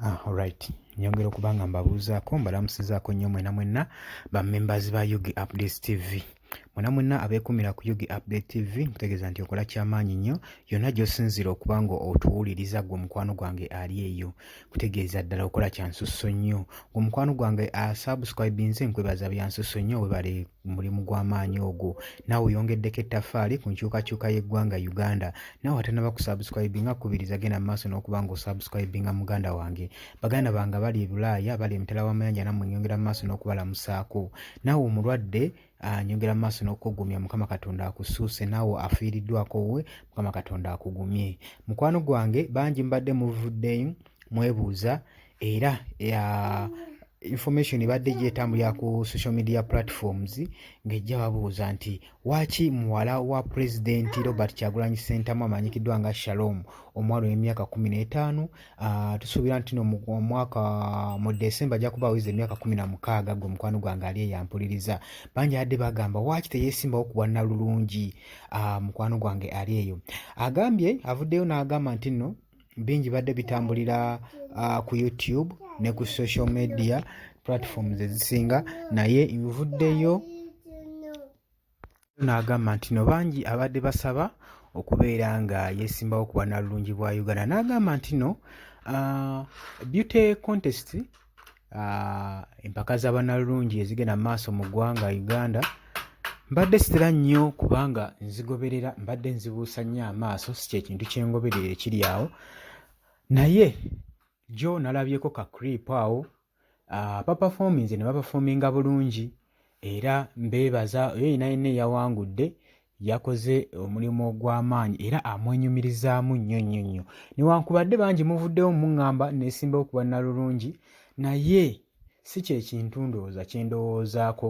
Ah, alright nyongera okuba nga mbabuuzaako mbalamusizaako nnyo mwena mwenna ba members ba ug updates tv mwena mwenna abeekumira ku ug update tv nkutegeeza nti okola kyamaanyi nnyo yonna gy'osinziira okuba nga otuwuliriza gwe omukwano gwange ali eyo kutegeeza ddala okola kyansusso nnyo omukwano gwange asubscribinze ah, nkwebaza byansuso nnyo webale mulimu gw'amaanyi ogwo naawe oyongeddeko ettafaali ku nkyukakyuka y'eggwanga uganda naawe atanaba kusubscribinga kubiriza genda mu maaso n'okuba nga osubscribinga muganda wange baganda bange bali ebulaaya bali emitala w'amayanja namwe nyongera mu maaso n'okubalamusaako naawe omulwadde ah, nyongera mu maaso n'okukugumya mukama katonda akusuuse naawe afiiriddwako we mukama katonda akugumye mukwano gwange bangi mbadde muvuddeyo mwebuuza era ya information ebadde gyetambulira ku social media platforms ng'ejja babuuza nti waaki muwala wa pulezidenti robert kyagulanyi sentamu amanyikiddwa nga shalom omuwala ow'emyaka kumi n'etaano ah, tusuubira nti no omwaka mu december ajja kuba aweza emyaka kumi na mukaaga gwe mukwano gwange ali eyampuliriza bangi adde bagamba waaki teyesimbawo ku bwannalulungi ah, mukwano gwange ali eyo agambye avuddeyo n'agamba nti nno bingi badde bitambulira uh, ku youtube ne ku social media platforms ezisinga naye nvuddeyo n'agamba nti no bangi abadde basaba okubeera nga yesimbawo ku bwanalulungi bwa uganda n'agamba nti no uh, beauty contest uh, empaka za banalulungi ezigenda mu maaso mu ggwanga uganda mbadde sitera nnyo kubanga nzigoberera mbadde nzibuusa nnyo amaaso si kyekintu kyengoberera ekiri awo naye jo nalabyeko ka crip awo uh, bapafominze ne bapafominga bulungi era mbeebaza oyo yina yenna eyawangudde yakoze omulimu ogw'amaanyi era amwenyumirizaamu nnyo nnyo nnyo newankubadde bangi muvuddewo muŋŋamba neesimbawo ku bannalulungi naye si kye kintu ndowooza kye ndowoozaako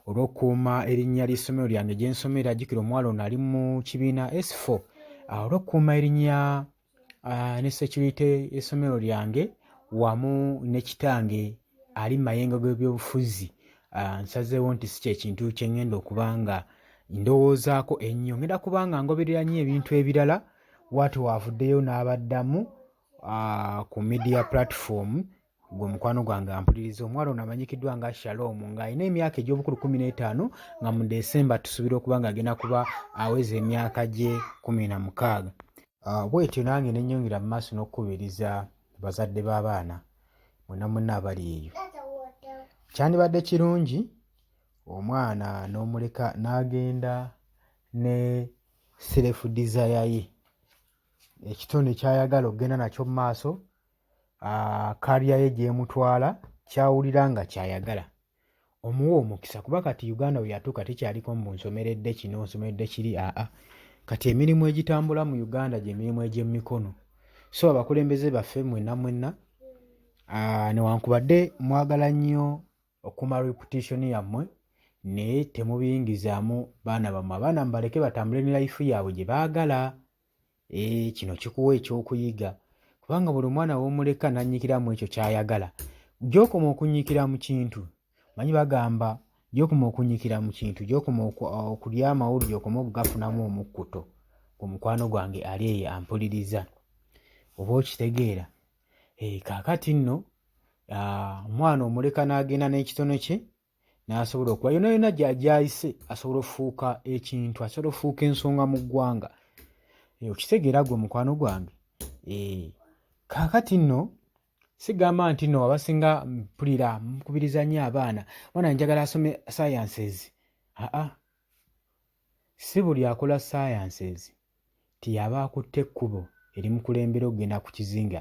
olw'okukuuma erinnya ly'essomero lyange gye nsomera jjukira omuwala ono ali mu kibiina s4 olw'okukuuma erinnya uh, ne security esomero lyange wamu ne kitange ali mayenga gw'ebyobufuzi uh, nsazeewo nti si kyekintu kyengenda okuba nga ndowoozaako ennyo ngenda kuba nga ngoberera nnyo ebintu ebirala waati waavuddeyo n'abaddamu uh, ku media platform gwe mukwano gwange ampuliriza omuwala ono amanyikiddwa nga shalom ng'alina emyaka egy'obukulu kumi n'etaano nga mu desemba tusuubira okuba ng'agenda kuba aweza emyaka gye kumi na mukaaga ah, bwetyo nange nenyongera mu maaso n'okukubiriza bazadde b'abaana mwena mwena abali eyo kyandibadde kirungi omwana n'omuleka n'agenda ne serefu desire ye ekitonde kyayagala okugenda nakyo mu maaso kaalya ye gy'emutwala ky'awulira nga ky'ayagala omuwa omukisa kuba kati Uganda we yatuuka tekyaliko mbu nsomeredde kino nsomeredde kiri aa kati emirimu egitambula mu Uganda gye mirimu egy'emikono so abakulembeze baffe mwenna mwenna newankubadde mwagala nnyo okuma reputation yammwe naye temubiyingizaamu baana bammwe abaana mubaleke batambule ne layifu yaabwe gye baagala Ee, eh, kino kikuwa ekyokuyiga kubanga buli omwana womuleka nanyikiramu ekyo kyayagala gyokoma okunyikira mu kintu manyi bagamba gyokoma okunyikira mu kintu gyokoma okulya amawulu gyokoma okugafunamu omukkuto ku mukwano gwange ali eyo ampuliriza oba okitegeera ee, eh, kakati nno ah, omwana omuleka nagenda n'ekitono kye n'asobola okuba yona yona gyayise asobola ofuuka ekintu asobola ofuuka ensonga mu ggwanga eh, okitegeera gwe mukwano gwange eh, kaakati nno sigamba nti no abasinga mpulira mukubiriza nnyo abaana mwana njagala asome sciences aa si buli akola sciences tiyaba akutte ekkubo erimukulembera okugenda ku kizinga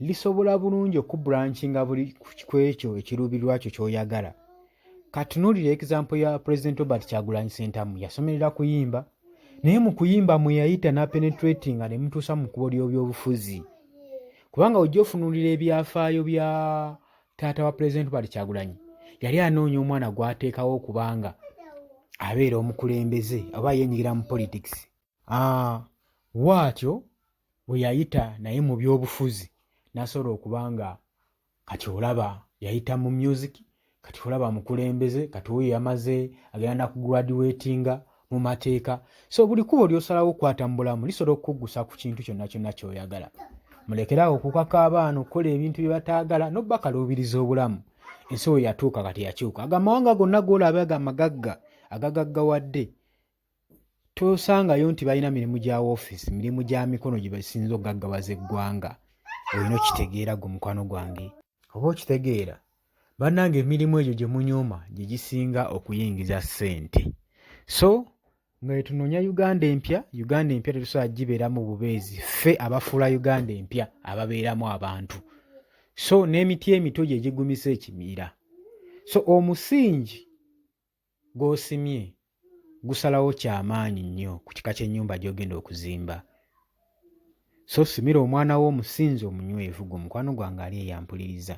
lisobola bulungi okubrancinga buli ku ekyo ekiruubirirwa kyo ky'oyagala katunuulira example ya president robert kyagulanyi sentamu yasomerera kuyimba naye mu kuyimba mwe yayita napenetratinga ne mutuusa mu kubo ly'obyobufuzi kubanga ojja ofunuulira ebyafaayo bya taata wa president robert kyagulanyi yali anoonya omwana gw'ateekawo okubanga abeera omukulembeze oba yenyigira mu politics Ah, waatyo bwe yayita naye mu byobufuzi nasobola okuba nga kati olaba yayita mu music kati olaba mukulembeze kati oyo yamaze agenda nakugraduatinga mu mateeka so buli kubo lyosalawo okukwata mu bulamu lisobola okukuggusa ku kintu kyonna kyonna kyoyagala mulekerawo okukaka abaana okukola ebintu bye bataagala nobakaluubiriza obulamu ensi we yatuuka kati yakyuka agamawanga gonna golaba gamagagga agagaggawadde tosangayo nti balina mirimu gya woofiisi mirimu gya mikono gye basinza okugaggawaza eggwanga olina okitegeera gwe mukwano gwange oba okitegeera bannanga emirimu egyo gye munyuma gye gisinga okuyingiza ssente so nga etunoonya uganda empya uganda empya tetusobola gibeeramu bubeezi ffe abafuula uganda empya ababeeramu abantu so n'emiti emito gye gigumisa ekimiira so omusingi gw'osimye gusalawo kya maanyi nnyo ku kika ky'ennyumba gy'ogenda okuzimba. So simira omwana wo omusinzi omunywevu gwe mukwano gwange ali eyampuliriza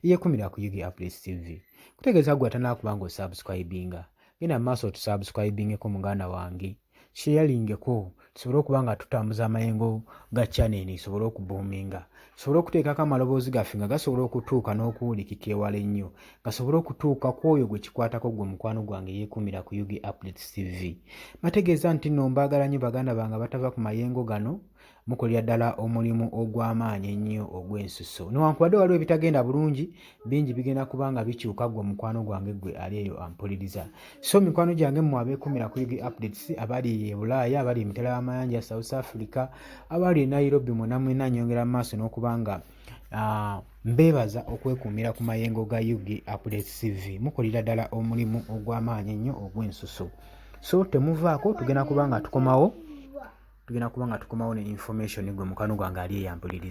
eyekumira ku Yugi Updates TV. Kutegeeza gwe atanakuba ng'osubscribinga. Genda mu maaso otusubscribingeko muganda wange. sheyalingeko tusobole okuba nga tutambuza amayengo ga chaneni sobole okubuuminga tusobole okuteekako amaloboozi gaffe nga gasobola okutuuka n'okuwulikika ewala ennyo gasobole okutuuka ku oyo gwe kikwatako gwe mukwano gwange yeekuumira ku ug updates tv bategeeza nti no mbaagala nnyo baganda bange abatava ku mayengo gano mukolera ddala omulimu ogw'amaanyi ennyo ogw'ensuso newankubadde waliwo ebitagenda bulungi bingi bigenda kuba nga bikyuka gwe mukwano gwange gwe ali eyo ampuliriza so mikwano gyange mmwe abeekumira ku ug updates abali e bulaaya abali emitala y'amayanja south africa abali e nairobi mwena mwena nyongera mu maaso n'okuba nga ah, Mbeebaza okwekuumira ku mayengo ga UG Updates TV. Mukolera ddala omulimu ogw'amaanyi ennyo ogw'ensusu. So temuvaako tugenda kuba nga tukomawo tugenda kuba nga tukomawo ne information gwe mukano gwange ali eyampuliriza.